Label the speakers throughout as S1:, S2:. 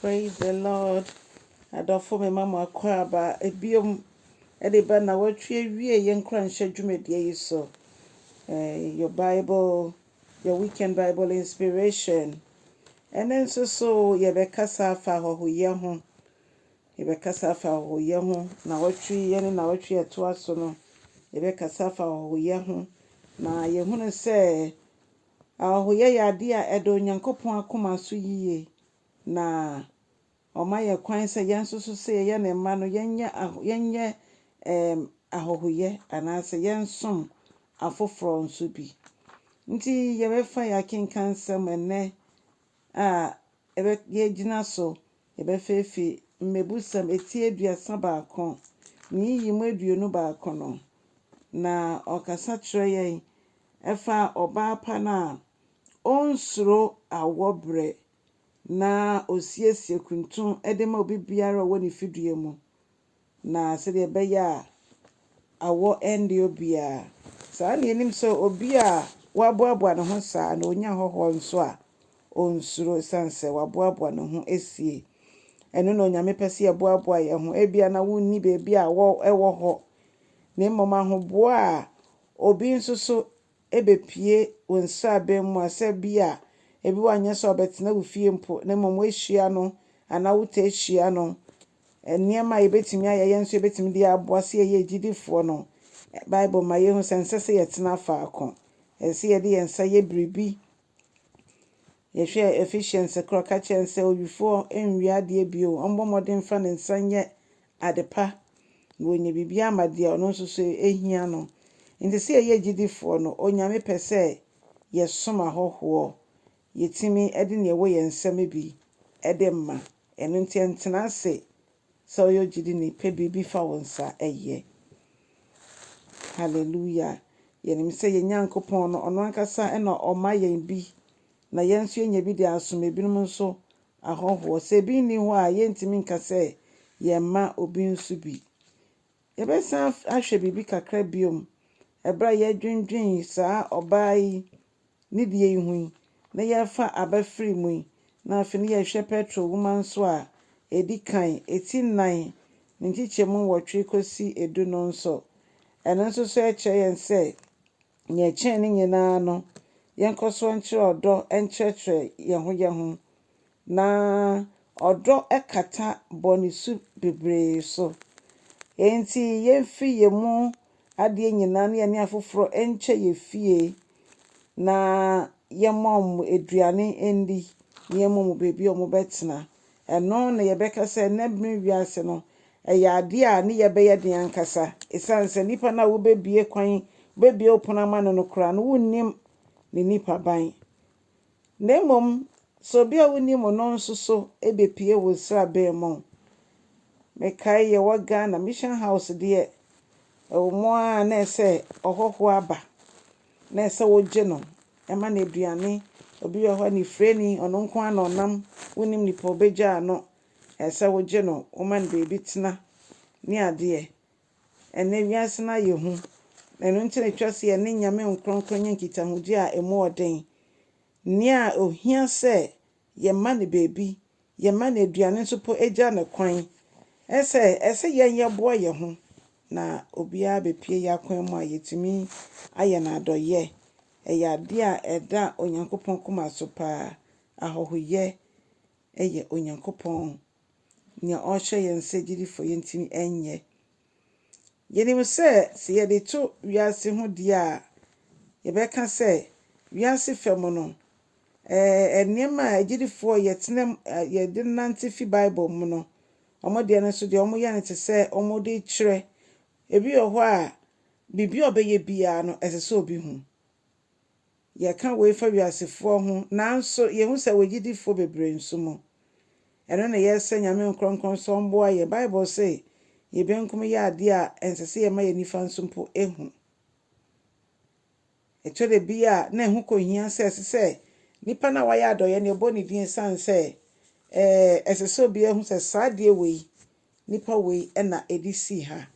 S1: Praise the Lord. Adɔfo me ma mo akwaaba bio de ba na wɔatwe awie yɛn nkuranhyɛ dwumadie yi so. Eh, your Bible, your weekend Bible inspiration. Ɛne nso so yɛbɛkasa afa ahɔhoyɛ ho. Yɛbɛkasa afa ahɔhoyɛ ho. Na wɔtwe yɛn ne na wɔtwe ɛtoa so no. Yɛbɛkasa afa ahɔhoyɛ ho. Na yɛhunu sɛ Ahɔhoyɛ yɛ ade a ɛda Onyankopɔn akoma so yiye, na ɔma yɛn kwan sɛ yɛn nso so sɛ yɛyɛ ne mma no, yɛnyɛ aho, yɛnyɛ ɛɛm, ahɔhoyɛ anaasɛ yɛnsom afoforɔ nso bi. Nti yɛbɛfa yɛn akenkan nsɛm ɛnnɛ a ɛbɛ, yɛgyina so Yɛbɛfeefi mmebusɛm eti aduasa baako, ne nyiyimu aduonu baako no, na ɔkasa kyerɛ yɛn fa ɔbaa pa no a onsuro awɔ berɛ na osiesie kuntun de ma obi biara a ɔwɔ ne fidua mu. Na sɛdeɛ ɛbɛyɛ a awɔ rennde obiara saa na yɛnim sɛ obi a waboaboa ne ho saa na ɔnya hɔhoɔ nso a, ɔnsuro ɛsiane sɛ waboaboa ne ho asie. Ɛno na Onyame pɛ sɛ yɛboaboa yɛn ho. Ebia na wonni baabi a awɔ wɔ hɔ, na mmom ahoboa a obi nso so bepue wo nsraban mu a, sɛ bi a ebi wɔ a nyɛ sɛ ɔbɛtena wo fie mpo, na mmom woahyia no anaa wotaa hyia no. Nneɛma a yebetumi ayɛ a yɛn nso yebetumi de aboa sɛ yɛyɛ agyidifoɔ no, Bible ma yehu sɛ ɛnsɛ sɛ yɛtena faako. Ɛsɛ sɛ yɛde yɛn nsa yɛ biribi. Yɛhwɛ Ephesians koro a, ɔka kyerɛ yɛn sɛ owifoɔ nwia adeɛ bio, ɔmmɔ mmɔden mfa ne nsa nyɛ adepa, na wɔanya biribiara ama deɛ ɔno nso so ɛhia no. Nti sɛ yɛyɛ gyidifoɔ no, Onyame pɛ sɛ yɛsom ahɔhoɔ, yɛtumi de neɛ ɛwɔ yɛn nsam bi de ma. Ɛno nti ntena ase sɛ woyɛ ogyidini, pɛ biribi fa wo nsa yɛ. Hallelujah! Yɛnim sɛ yɛn Nyankopɔn no, ɔno ankasa na ɔma yɛn bi, na yɛn nso yɛnya bi de asom binom nso Ahɔhoɔ. Sɛ ebi nni hɔ a, yɛntumi nka sɛ yɛmma obi nso bi. Yɛbɛsan ahwɛ biribi kakra bio berɛ a yɛredwendwen saa ɔbaa yi ne deɛ yi ho yi, na yɛrefa aba firi mu yi, na afei na yɛhwɛ Petro nwoma nso a ɛdi kan, ti nnan, ne nkyekyɛmu nwɔtwe kɔsi du no nso. Ɛno nso so kyerɛ yɛn sɛ Nea ɛkyɛn ne nyinaa no, yɛnkɔ so nkyerɛ ɔdɔ nkyerɛkyerɛ yɛn ho yɛn ho, na ɔdɔ kata bɔne su bebree so. Enti, yemfi yɛn mu adeɛ nyinaa na yɛne afoforɔ nkyɛ yɛn fie, na yɛmma wɔn aduane nni, na yɛmma wɔn baabi a wɔbɛtena. Ɛno na yɛbɛka sɛ nnɛ bere wiase no, ɛyɛ ade a ne yɛ bɛyɛ den ankasa, esiane sɛ nnipa no a wobebue kwan, wobebue ɔpon ama no no koraa no, wonnim ne nipaban. Na mmom, sɛ obi a wunim no no nso so bepue wo nsraban mu. Mekae yɛwɔ Ghana, Mission House deɛ, ɛwɔ mu ara na ɛsɛ sɛ ɔhɔho aba. na ɛsɛ wogye no ma no aduane. Obi wɔ hɔ anifirani, ɔno nko ara na ɔnam, wonnim nipa a obegyaa ano, ɛsɛ sɛ wogye no, woma no baabi tena ne adeɛ. Ɛnnɛ wiase no ayɛ hu, ɛno nti na ɛtwa sɛ yɛne Nyame nkorɔnkorɔnyɛ nkitahodie a ɛmu ɔden. Nea ohia sɛ Yɛmma no baabi, yɛmma no aduane nso mpo, gya no kwan. Ɛne sɛ, ɛsɛ sɛ yɛn yɛboa yɛn ho na obiara bɛpue yɛn akwan mu a yɛtumi ayɛ no adɔeɛ. Ɛyɛ adeɛ a ɛda Onyankopɔn koma so pa ara. Ahɔhoyɛ yɛ Onyankopɔn, deɛ ɔhyɛ yɛn sɛ gyedifoɔ yɛntumi nyɛ. Yenim sɛ sɛ yɛde to wiase ho di a, yɛbɛka sɛ wiase fa mu no, ɛɛ, nneɛma a agyidifoɔ a yɛtena mu, a yɛde nante fi Bible mu no, wɔn deɛ no nso deɛ wɔyɛ no te sɛ wɔde kyerɛ. Ebi wɔ hɔ a, biribi a ɔbɛyɛ biara no, ɛsɛ sɛ obi hu. Yɛka wei fa wiasefoɔ ho, nanso yɛhu sɛ wɔ gyidifoɔ bebree nso mu. Ɛno na yɛsrɛ Nyame nkorɔnkorɔn sɛ ɔmboa yɛn. Bible se yɛn benkum yɛ adeɛ a ɛnsɛ sɛ yɛma yɛn nifa nso mpo hu. Ɛtɔ da bi a na ɛho kɔhia sɛ ɛsɛ sɛ nipa no a wayɛ adɔeɛ no yɛbɔ ne din ɛsiane sɛ ɛɛ ɛsɛ sɛ obiara hu sɛ saa adeɛ wei Nnipa wei na ɛde sii ha.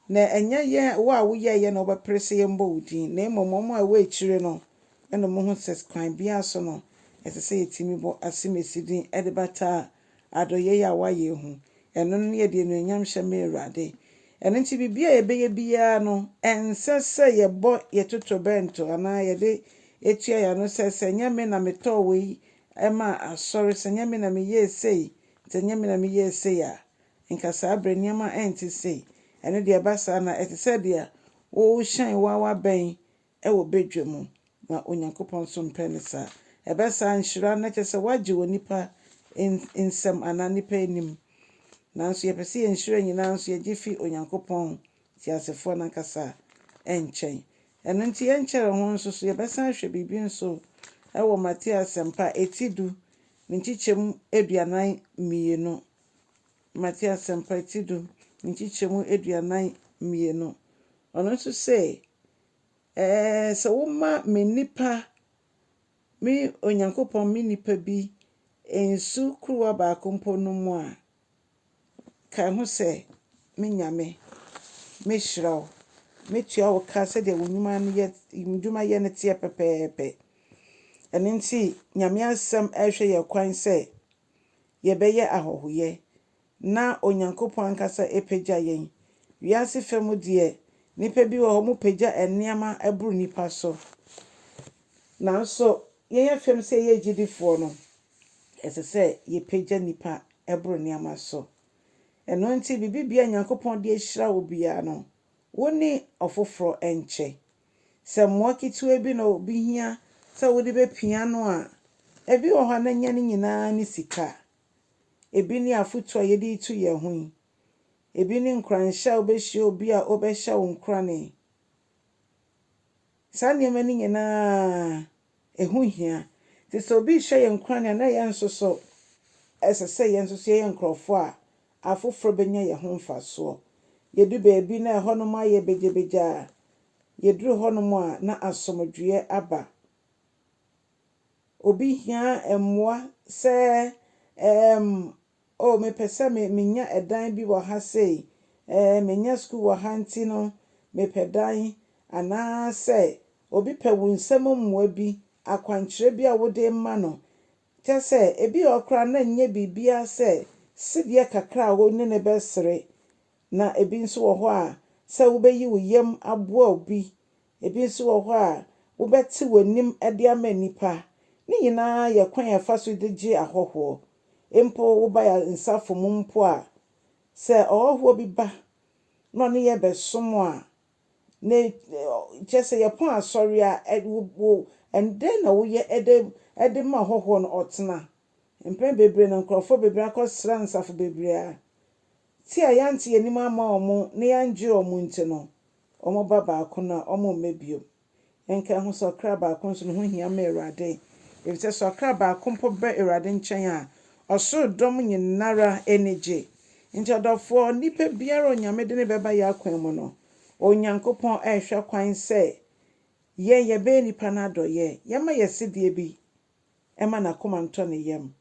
S1: Na ɛnyɛ yɛ wo a woyɛeɛ na wobɛpere sɛ yɛmmɔ wo din, na mmom wɔn a ɛwɔ akyire no na wɔhu sɛ kwan biara so no, ɛsɛ sɛ yɛtumi bɔ asimesi din de bata adɔeɛ yi a woayɛ yi ho. Ɛno ne yɛde anuonyam hyɛ me Awurade. Ɛno nti biribiara a yɛbɛyɛ biara no, ɛnsɛ sɛ yɛbɔ yɛn totorobɛnto anaa yɛde tua yɛn ano sɛ, sɛ ɛnyɛ me na metɔɔ wei maa asɔre, sɛ ɛnyɛ me na meyɛɛ sei, Sɛ ɛnyɛ me na meyɛɛ sei a, nka saa berɛ nneɛma rente sei. Ɛno deɛ ɛba saa no a, ɛte sɛ deɛ worehyɛn wo ara wabɛn wɔ badwam, na Onyankopɔn nso mpɛ no saa. Ɛbɛ saa a, nhyira no kyerɛ sɛ woagye wɔ nnipa nsam anaa nnipa anim. Nanso yɛpɛ sɛ yɛn nhyira nyinaa nso yɛgye fi Onyankopɔn teasefoɔ no ankasa nkyɛn. Ɛno nti yɛnkyɛre ho nso so yɛbɛsan ahwɛ biribi nso wɔ Mateo Asɛmpa a ɛti du ne nkyekyɛmu aduanan mmienu. Mateo Asɛmpa ɛti du ne nkyekyɛmu aduanan mmienu. Ɔno nso se, Ɛɛ, sɛ woma me nnipa, me Onyankopɔn, me nnipa bi nsu kuruwa baako mpo nom a, Ka ho sɛ, Me Nyame, mɛhyira wo, mɛtua wo ka sɛdeɛ wo nnwuma no yɛ, nnwuma yɛ no teɛ pɛpɛɛpɛ. Ɛno nti, Nyame Asɛm rehwɛ yɛn kwan sɛ yɛbɛyɛ ahɔhoyɛ na Onyankopɔn ankasa apagya yɛn. Wiase fa mu deɛ, nnipa bi wɔ hɔ, wɔpagya nneɛma boro nnipa so. Nanso, yɛn afam sɛ yɛyɛ agyidifoɔ no, Ɛsɛ sɛ yɛpagya nnipa boro nneɛma so. Ɛno nti, biribiara a Nyankopɔn de ahyira wo biara no, wo ne ɔfoforɔ nkyɛ. Sɛ mmoa ketewa bi na obi hia sɛ wode bɛpia no a, ebi wɔ hɔ a na ɛnyɛ ne nyinaa ne sika. Ebi ne afotuo a yɛde retu yɛn ho yi. Ebi ne nkuranhyɛ a wobɛhyia obi a ɔbɛhyɛ wo nkurane. Saa nneɛma no nyinaa Ɛho hia. Enti sɛ obi rehyɛ yɛn nkuran a, na yɛn nso so ɛsɛ sɛ yɛn nso so yɛyɛ nkurɔfo a afoforo benya yɛn ho mfasoɔ. Yɛdu baabi na ɛhɔnom ayɛ begyabegya a, yɛduru hɔnom a, na asomdwoeɛ aba. Obi hia mmoa sɛ ɛɛm Oh, mepɛ sɛ me, menya ɛdan bi wɔ ha sei. Ɛɛ, manya sukuu wɔ ha nti no, mepɛ dan. Anaasɛ obi pɛ wo nsɛm mu mmoa bi, akwankyerɛ bi a wode rema no. Kyerɛ sɛ, ebia ɔhɔ koraa na ɛnyɛ biribiara sɛ sedeɛ kakra a wo ne no bɛsere. Na ebi nso wɔ hɔ a, sɛ wobɛyi wo yam aboa obi Ebi nso wɔ hɔ a wobɛtew w'anim de ama nnipa. Ne nyinaa yɛ kwan a yɛfa so de gye ahɔhoɔ. Mpo woba yɛn asafo mu mpo a, sɛ ɔhɔhoɔ bi ba na ɔne yɛn bɛsom a, ne kyerɛ sɛ yɛpɔn asɔre a, wo wo dɛn na woyɛ de de ma ɔhɔhoɔ no ɔtena? Mpɛn bebree no, nkurɔfoɔ bebree akɔsra nsafo bebree a, ti a yɛante yɛn anim amma wɔn na yɛanngyere wɔn nti no, Wɔn ba baako no a, wɔmma bio. Yɛnka ɛho sɛ ɔkra baako nso no ho hia ma Awurade, efisɛ sɛ ɔkra baako mpo ba Awurade nkyɛn a, ɔsoro dɔm nyinara ani gye. Enti ɔdɔfoɔ, onipa biara a Onyame de no bɛba yɛn akwan mu no, Onyankopɔn rehwɛ kwan sɛ yɛn yɛbɛyɛ nnipa no adɔeɛ, yɛmma yɛn asedeɛ bi mma n'akoma ntɔ ne yam,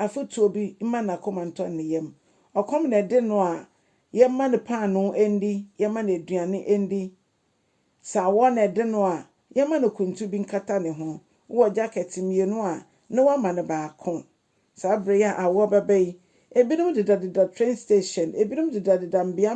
S1: afotuo bi mma n'akoma ntɔ ne yam. Ɔkɔm na ɛde no a, yɛmma no paanoo ndi, yɛmma no aduane ndi. Sɛ awɔ na ɛde no a, yɛmma no kuntu bi nkata ne ho. Wowɔ gyakɛte mmienu a, na woama no baako. Saa berɛ yi a awɔ bɛba yi, ebinom dedadeda train station, ebinom dedadeda mmeammea